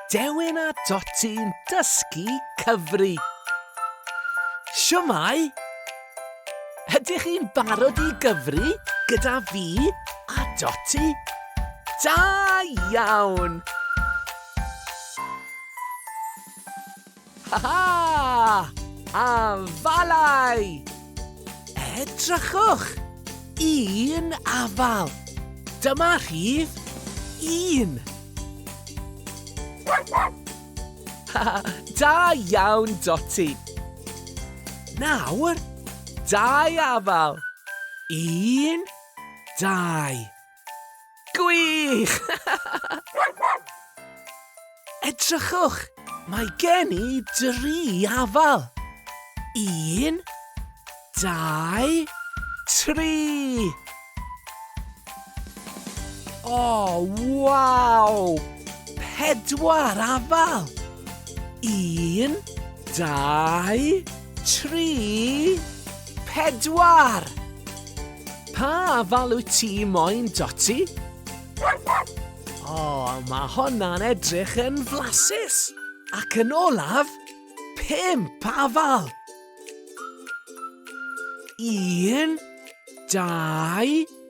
Dewin a Doti'n dysgu cyfri. Siwmai! Ydych chi'n barod i gyfri gyda fi a Doti? Da iawn! Ha ha! Afalau! Edrychwch! Un afal! Dyma rhif un! Ha ha! Da iawn, Dotty! Nawr, dau afal! Un, dau! Gwych! Edrychwch, mae gen i dri afal. Un, dau, tri! O, waw! Pedwar afal! Un, dau, Tri! Pedwar! Pa afal wyt ti moyn, Dotty? O, oh, mae honna'n edrych yn flasus. Ac yn olaf, pimp afal. Un, dau,